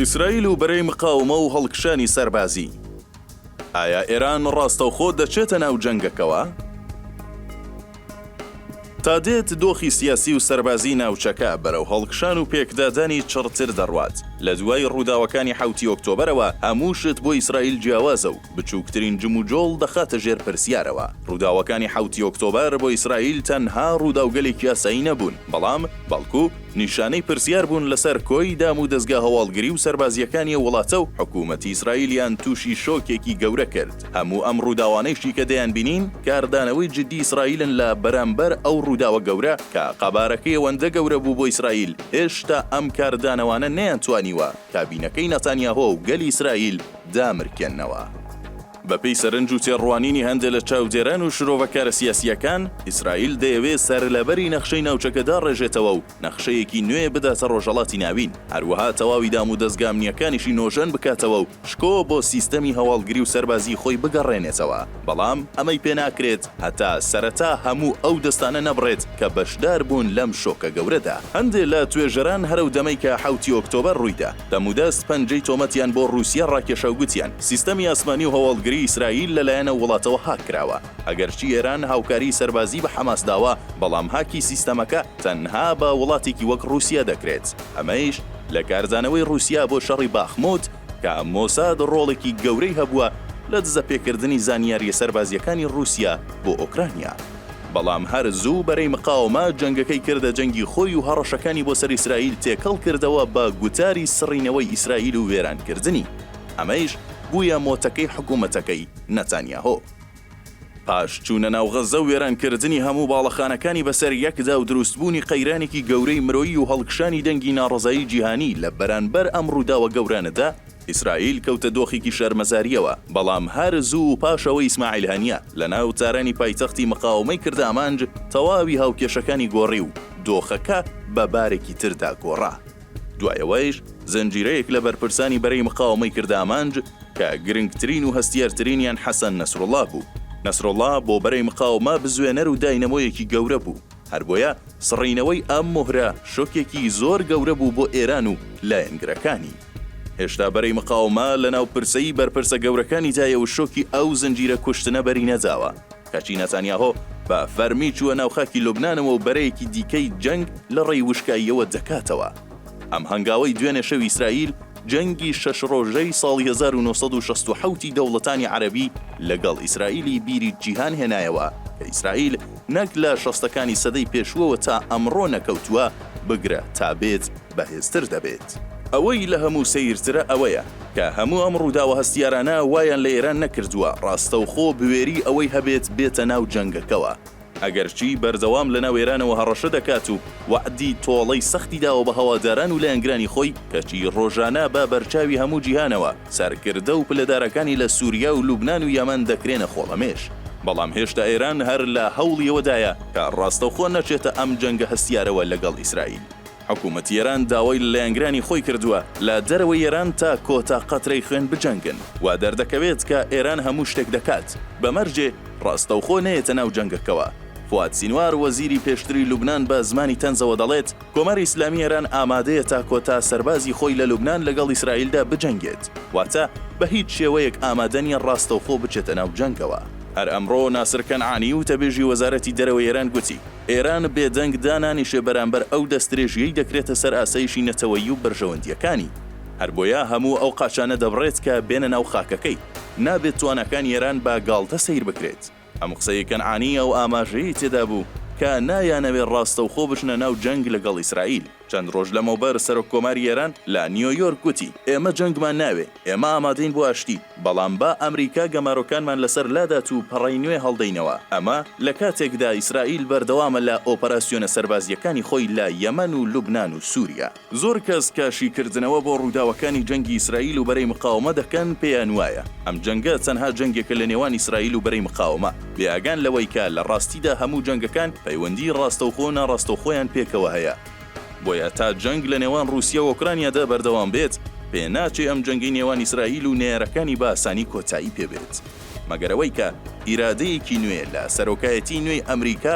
ئیسرائیل و بەرەی مقاومە و هەڵکشانی سەربازی. ئایا ئێران ڕاستەوخۆ دەچێتە ناو جەنگەکەوە؟ تا دێت دۆخی سیاسی و سەربازی ناوچەکە بەرەو هەڵکشان و پێکدادانی چڕتر دەڕوات لە دوای ڕووداوەکانی حوتی ئۆکتۆبرەوە هەموو شت بۆ ئیسرائیل جیاوازە و بچووکترین جموجۆڵ دەخاتە ژێر پرسیارەوە. ڕووداوەکانی حەوتی ئۆکتۆبەر بۆ ئیسرائیل تەنها ڕووداوگەلێکی یاسایی نەبوون، بەڵام، بەڵکو، نیشانەی پرسیار بوون لەسەر کۆی دامودەزگا هەواڵگری و سەربازییەکانی ئەو وڵاتە و حکوومەتی ئیسرائیلیان تووشی شۆکێکی گەورە کرد. هەموو ئەم ڕووداوانەیشی کە دەیانبینین، کاردانەوەی جددی ئیسرائیلن لە بەرامبەر ئەو ڕووداوە گەورە، کە قەبارەکەی ئەوەندە گەورە بوو بۆ ئیسرائیل، هێشتا ئەم کاردانەوانە نەیانتوانیوە کابینەکەی ناتانیاهۆ و گەلی ئیسرائیل، دامرکێننەوە. بەپێی سەرنج و تێڕوانینی هەندێ لە چاودێران و شرۆڤەکارە سیاسییەکان، ئیسرائیل دەیەوێ سەرلەبەری نەخشەی ناوچەکە داڕێژێتەوە و نەخشەیەکی نوێ بداتە ڕۆژهەڵاتی ناوین، هەروەها تەواوی دامودەزگا ئەمنییەکانیشی نۆژەن بکاتەوە و شکۆ بۆ سیستەمی هەواڵگری و سەربازیی خۆی بگەڕێنێتەوە، بەڵام ئەمەی پێ ناکرێت هەتا سەرەتا هەموو ئەو دەستانە نەبڕێت کە بەشدار بوون لەم شۆکە گەورەدا. هەندێ لە توێژەران هەرەو دەمەی کە حەوتی ئۆکتۆبەر ڕووی دا، دەمودەست پەنجەی تۆمەتیان بۆ ڕووسیە ڕاکێشا و گوتیان، سیستەمی ئاسمانی و هەواڵگری ئیسرائیل لەلایەن ئەو وڵاتەوە هاک کراوە. ئەگەرچی ئێران هاوکاریی سەربازی بە حەماس داوە، بەڵام هاکی سیستەمەکە تەنها بە وڵاتێکی وەک ڕووسیە دەکرێت، ئەمەیش لە کاردانەوەی ڕووسیە بۆ شەڕی باخموت کە مۆساد ڕۆڵێکی گەورەی هەبووە لە دزەپێکردنی زانیارییە سەربازییەکانی ڕووسیە بۆ ئۆکرانیا. بەڵام هەر زوو بەرەی مقاوەمە جەنگەکەی کردە جەنگی خۆی و هەڕەشەکانی بۆ سەر ئیسرائیل تێکەڵ کردەوە بە گوتاری سڕینەوەی ئیسرائیل و وێرانکردنی، ئەمەیش بوویە مۆتەکەی حکومەتەکەی نەتانیاهۆ. پاش چوونە ناو غەززە و وێرانکردنی هەموو باڵەخانەکانی بەسەر یەکدا و دروستبوونی قەیرانێکی گەورەی مرۆیی و هەڵکشانی دەنگی ناڕەزایی جیهانی لە بەرانبەر ئەم ڕووداوە گەورانەدا، ئیسرائیل کەوتە دۆخێکی شەرمەزارییەوە، بەڵام هەر زوو پاش ئەوەی ئیسماعیل هەنیە لە ناو تارانی پایتەختی مقاوەمەی کرد ئامانج تەواوی هاوکێشەکانی گۆڕی و دۆخەکە بە بارێکی تردا گۆڕا. دوای ئەوەیش زنجیرەیەک لە بەرپرسانی بەرەی مقاوەمەی کرد ئامانج کە گرنگترین و هەستیارترینیان حەسەن نەسروڵا بوو. نەسروڵا بۆ بەرەی مقاوەمە بزوێنەر و داینەمۆیەکی گەورە بوو. هەربۆیە سڕینەوەی ئەم مۆهرە شۆکێکی زۆر گەورە بوو بۆ ئێران و لایەنگرەکانی. هێشتا بەرەی مقاومە لە ناو پرسەی بەرپرسە گەورەکانیدایە و شۆکی ئەو زنجیرە کوشتنە بەری نەداوە، کەچی نەتانیاهۆ بە فەرمی چووە ناو خاکی لوبنانەوە و بەرەیەکی دیکەی جەنگ لە ڕێی وشکاییەوە دەکاتەوە. ئەم هەنگاوەی دوێنێ شەوی ئیسرائیل جەنگی شەش ڕۆژەی ساڵی هەزار و نۆ سەد و شەست و حەوت ی دەوڵەتانی عەرەبی لەگەڵ ئیسرائیلی بیری جیهان هێنایەوە کە ئیسرائیل نەک لە شەستەکانی سەدەی پێشووەوە تا ئەمڕۆ نەکەوتووە، بگرە تا بێت بەهێزتر دەبێت. ئەوەی لە هەموو سەیرترە ئەوەیە، کە هەموو ئەم ڕووداوە هەستیارانە وایان لە ئێران نەکردووە ڕاستەوخۆ بوێری ئەوەی هەبێت بێتە ناو جەنگەکەوە، ئەگەرچی بەردەوام لە ناو ئێرانەوە هەڕەشە دەکات و وەعدی تۆڵەی سەختی داوە بە هەواداران و لایەنگرانی خۆی، کەچی ڕۆژانە بە بەرچاوی هەموو جیهانەوە، سەرکردە و پلەدارەکانی لە سوریا و لوبنان و یەمەن دەکرێنە خۆڵەمێش، بەڵام هێشتا ئێران هەر لە هەوڵی ئەوەدایە کە ڕاستەوخۆ نەچێتە ئەم جەنگە هەستیارەوە لەگەڵ ئیسرائیل. حکومەتی ئێران داوای لە لایەنگرانی خۆی کردووە لە دەرەوەی ئێران تا کۆتا قەترەی خوێن بجەنگن، وا دەردەکەوێت کە ئێران هەموو شتێک دەکات بە مەرجێ ڕاستەوخۆ نەیەتە ناو جەنگەکەوە. فواد سینوار وەزیری پێشتری لوبنان بە زمانی تەنزەوە دەڵێت، کۆماری ئیسلامی ئێران ئامادەیە تا کۆتا سەربازی خۆی لە لوبنان لەگەڵ ئیسرائیلدا بجەنگێت، واتە بە هیچ شێوەیەک ئامادە نییە ڕاستەوخۆ بچێتە ناو جەنگەوە. هەر ئەمڕۆ ناسر کەنعانی، وتەبێژی وەزارەتی دەرەوەی ئێران گوتی، ئێران بێدەنگ دانانیشێ بەرامبەر ئەو دەستدرێژییەی دەکرێتە سەر ئاسایشی نەتەوەیی و بەرژەوەندییەکانی، هەر بۆیە هەموو ئەو قاچانە دەبڕێت کە بێنە ناو خاکەکەی، نابێت تواناکانی ئێران بە گاڵتە سەیر بکرێت. ئەم قسەی کەنعانی ئەو ئاماژەیەی تێدا بوو کە نایانەوێت ڕاستەوخۆ بچنە ناو جەنگ لەگەڵ ئیسرائیل. چەند ڕۆژ لەمەوبەر سەرۆک کۆماری ئێران لە نیۆیۆرک گوتی، ئێمە جەنگمان ناوێ، ئێمە ئامادەین بۆ ئاشتی، بەڵام با ئەمریکا گەمارۆکانمان لەسەر لادات و پەڕەی نوێ هەڵدەینەوە. ئەمە لە کاتێکدا ئیسرائیل بەردەوامە لە ئۆپەراسیۆنە سەربازییەکانی خۆی لە یەمەن و لوبنان و سووریا. زۆر کەس کە شیکردنەوە بۆ ڕووداوەکانی جەنگی ئیسرائیل و بەرەی مقاوەمە دەکەن پێیان وایە ئەم جەنگە تەنها جەنگێکە لە نێوان ئیسرائیل و بەرەی مقاوەمە بێ ئاگان لەوەی کە لە ڕاستیدا هەموو جەنگەکان پەیوەندی ڕاستەوخۆ و ناڕاستەوخۆیان پێکەوە هەیە. بۆیە تا جەنگ لە نێوان ڕووسیا و ئۆکرانیادا بەردەوام بێت پێ ناچێ ئەم جەنگەی نێوان ئیسرائیل و نەیارەکانی بە ئاسانی کۆتایی پێ بێت مەگەر ئەوەی کە ئیرادەیەکی نوێ لە سەرۆکایەتیی نوێی ئەمریکا